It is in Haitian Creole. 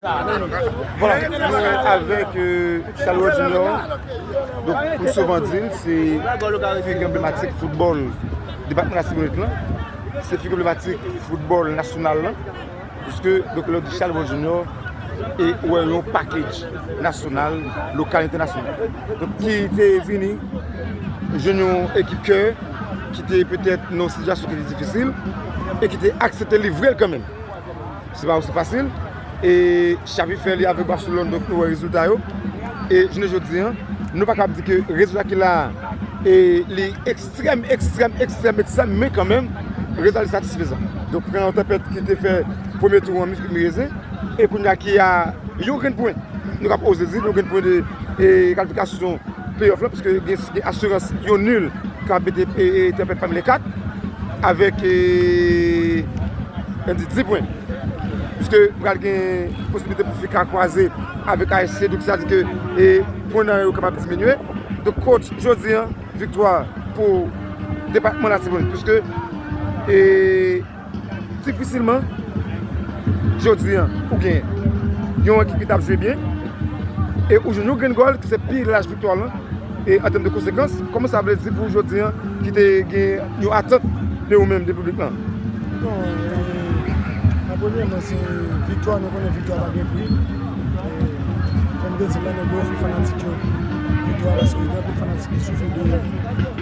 Voilà, nou avèk Charleroi Junior, donk pou souvan di l, se figi anblematik foutbòl depatman Latibonit lan, se figi anblematik foutbòl nasyonal lan, pwiske donk lè w di Charleroi Junior, e ou wè yon package nasyonal, lokal, entènasyonal. Donk ki te vini jwenn yon ekip kè, ki te petèt nan yon sitiyasyon ki te difisil, e ki te aksepte livre l kanmenm. Se pa osi fasil e Xavi fè li avèk Barcelone donk nou wè rezilta yo e jounen jodi an nou pa kab di ke rezilta ki la e li ekstrèm, ekstrèm, ekstrèm, ekstrèm men kanmenm rezilta li satisfezan. Donk pran yon tanpèt ki te fè premye tou an misk mi reze e kounye a ki a yon grenn pwen nou kab oze di yon grenn pwen de kalifikasyon play off la pwiske gen. Gen asirans yon nul ka mete tenpèt pami le 4 avèk yon di 10 pwen. Piske pral gen posibilite pou fi ka kwaze avèk ayisyen donk sa di ke pwen nan yo kapab diminye. Donk coach jodi an viktwa pou depatman latibonit piske. Difisilman, jodi an, ou gen yon ekip ki t ap jwe byen e ou jwenn yon grenn gòl ki se pi laj viktwa lan e an tèm de konsekans, kòman sa vle di pou ou jodi an ki te gen yon atant de ou menm, de piblik lan? Bon, e premyèman se viktwa, nou konnen viktwa pa gen pri e kòm m te di l la, nou dwe ofri fanatik yo viktwa paske gen anpil fanatik ki soufri de.